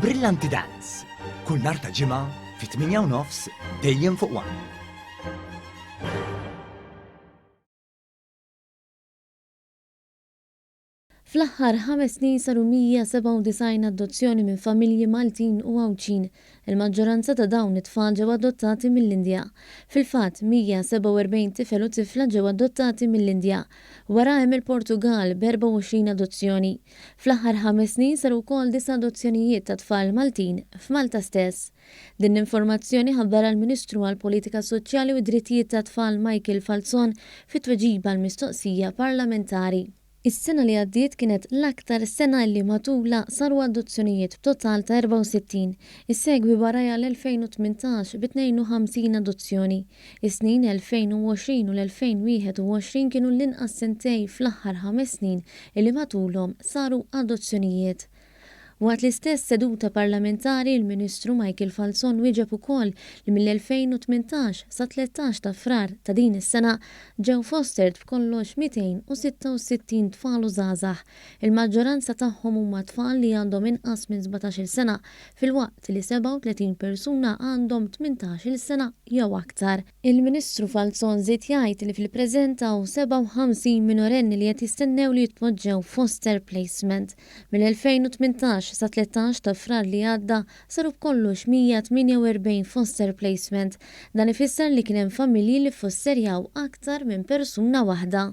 Brillanti Dance, kull nhar ta' ġimgħa fit-8 u nofs dejjem fuq One. Fl-aħħar ħames snin saru 197 adozzjoni minn familji Maltin u Għawdxin. Il-maġġoranza ta' dawn it-tfal ġew adottati mill-Indja. Fil-fatt, 147 tifel u tifla ġew adottati mill-Indja. Wara hemm il-Portugall b'24 adozzjoni. Fl-aħħar ħames snin saru wkoll disa' adozzjonijiet ta' tfal Maltin f'Malta stess. Din l-informazzjoni ħabbarha l-Ministru għall-Politika Soċjali u d-Drittijiet tat-Tfal Michael Falzon fi tweġiba għal mistoqsija parlamentari. Is-sena li għaddiet kienet l-aktar sena illi matulha saru adozzjonijiet b'total ta' 64. Issegwi warajha l-2018 bi 52 adozzjoni. Is-snin 2020 u l-2021 kienu l-inqas sentejn fl-aħħar ħames snin illi matulhom saru adozzjonijiet. Waqt l-istess seduta parlamentari l-Ministru Michael Falzon wieġeb ukoll li mill-2018 sat-tlettax ta' Frar ta' din is-sena ġew fostert b'kollox 266 tfal u żgħażagħ Il-maġġoranza tagħhom huma tfal li għandhom inqas minn sbatax-il sena, filwaqt li 37 persuna għandhom tmintax-il sena jew aktar. Il-Ministru Falzon żied jgħid li fil-preżent hawn 57 minorenni li qed jistennew li jitpoġġew f'foster placement. Mill-2018 sat-13 ta' Frar li għadda Saru b'kollox 148 foster placement. Dan ifisser li kien hemm familji li ffosterjaw aktar minn persuna waħda.